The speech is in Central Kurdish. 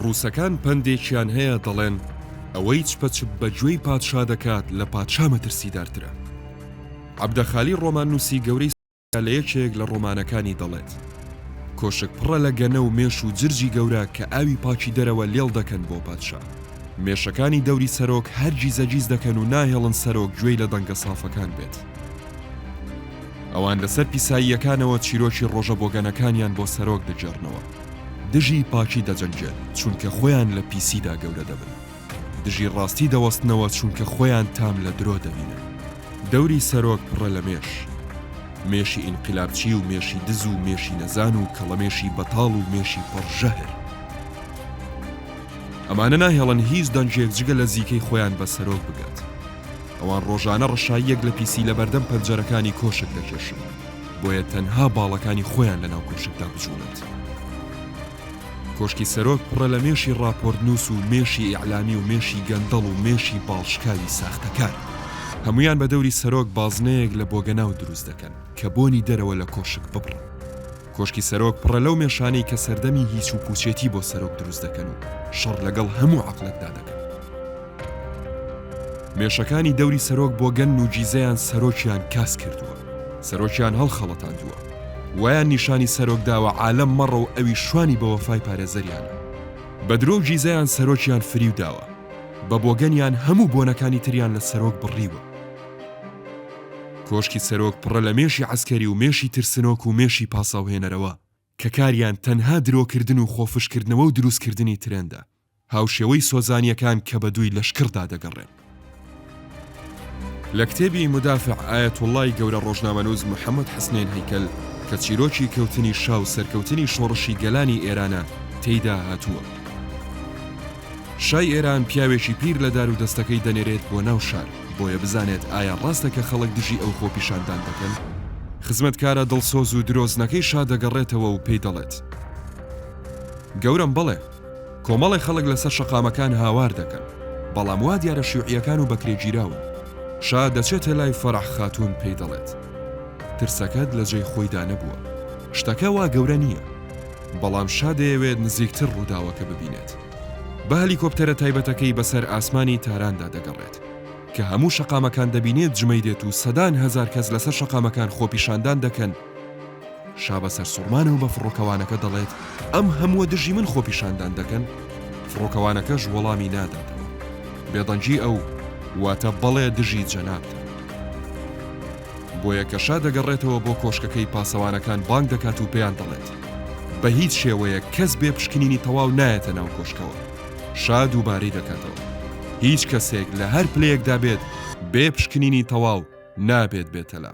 ڕووسەکان پەندێکیان هەیە دەڵێن، ئەوەی چپە چپ بە گوێی پادشا دەکات لە پادشا مەترسیدارترە. عەبدەخالی ڕۆمان نووسی گەورەی لە یەکێک لە ڕۆمانەکانی دەڵێت، کۆشک پڕە لە گەنە و مێش و جرجی گەورە کە ئاوی پاکی دەرەوە لێڵ دەکەن بۆ پادشا. مێشەکانی دەوری سەرۆک هەر گیزەگیز دەکەن و ناهێڵن سەرۆک گوێی لە دەنگە سافەکان بێت. ئەوان لەسەر پیساییەکانەوە چیرۆکی ڕۆژە بۆگەنەکانیان بۆ سەرۆک دەگێڕنەوە دژی پاکی دەجەنگێن چونکە خۆیان لە پیسیدا گەورە دەبن دژی ڕاستی دەوەستنەوە چونکە خۆیان تام لە درۆ دەبینن دەوری سەرۆک پڕە لە مێش مێشی ئینقلابچی و مێشی دز و مێشی نەزان و کەڵەمێشی بەتاڵ و مێشی پڕ ژەهر ئەمانە ناهێڵن هیچ دەنگێک جگە لە زیکەی خۆیان بە سەرۆک بگات ئەوان ڕۆژانە ڕەشاییەک لە پیسی لە بەردەم پەنجەرەکانی کۆشک دەکێشن بۆیە تەنها باڵەکانی خۆیان لە ناو کۆشکدا بچوونت کۆشکی سەرۆک پڕە لە مێشی ڕاپۆرتنووس و مێشی ئیعلامی و مێشی گەندەڵ و مێشی باڵشکاوی ساختەکار هەمویان بە دەوری سەرۆک بازنەیەک لە بۆگەناو دروست دەکەن کە بۆنی دەرەوە لە کۆشک ببڕن. کۆشکی سەرۆک پڕە لەو مێشانەی کە سەردەمی هیچ و پووچێتی بۆ سەرۆک دروست دەکەن و شەڕ لەگەڵ هەموو عەقڵێکدا دەکەن. مێشەکانی دەوری سەرۆک بۆگەنن و گیزەیان سەرۆکیان کاس کردووە. سەرۆکیان هەڵخەڵەتاندووە. وایان نیشانی سەرۆک داوە عالەم مەڕە و ئەویش شوانی بە وەفای پارێزەریانە. بە درۆ و گیزەیان سەرۆکیان فریو داوە. بە بۆگەنیان هەموو بۆنەکانی تریان لە سەرۆک بڕیوە. کۆشکی سەرۆک پڕە لە مێشی عەسکەری و مێشی ترسنۆک و مێشی پاساوهێنەرەوە کە کاریان تەنها درۆکردن و خۆفشکردنەوە و دروستکردنی ترێندە، هاوشێوەی سۆزانییەکان کە بە دووی لەشکڕدا دەگەڕێن. لە کتێبی مدافع ئایەتوڵڵای گەورە ڕۆژنامەنووس محەمەد حەسنین هەیکەل کە چیرۆکی کەوتنی شا و سەرکەوتنی شۆڕشی گەلانی ئێرانە تێیدا هاتووە، شای ئێران پیاوێکی پیر لە دار و دەستەکەی دەنێرێت بۆ ناو شار، بۆیە بزانێت ئایا ڕاستە کە خەڵک دژی ئەو خۆپیشاندان دەکەن؟ خزمەتکارە دڵسۆز و درۆزنەکەی شا دەگەڕێتەوە و پێی دەڵێت، گەورەم بەڵێ، کۆمەڵێ خەڵک لەسەر شەقامەکان هاوار دەکەن، بەڵام وا دیارە شیوعییەکان و بەکرێگیراون. شا دەچێتە لای فەرەح خاتوون پێی دەڵێت، ترسەکەت لە جێی خۆیدا نەبووە. شتەکە وا گەورە نییە. بەڵام شا دەیەوێت نزیکتر ڕووداوەکە ببینێت. بە هەلیکۆپتەرە تایبەتەکەی بەسەر ئاسمانی تاراندا دەگەڕێت، کە هەموو شەقامەکان دەبینێت جمەی دێت و سەدان هەزار کەس لەسەر شەقامەکان خۆپیشاندان دەکەن، شا بە سەرسوڕمانەوە بە فڕۆکەوانەکە دەڵێت، ئەم هەمووە دژی من خۆپیشاندان دەکەن؟ فڕۆکەوانەکەش وەڵامی ناداتەوە، بێدەنگی ئەو واتە بەڵێ دژی جەنابتە. بۆیە کە شا دەگەڕێتەوە بۆ کۆشکەکەی پاسەوانەکان بانگ دەکات و پێیان دەڵێت بە هیچ شێوەیەک کەس بێ پشکنینی تەواو نایەتە ناو کۆشکەوە شا دووبارەی دەکاتەوە هیچ کەسێک لە هەر پلەیەکدا بێت بێ پشکنینی تەواو نابێت بێتەلا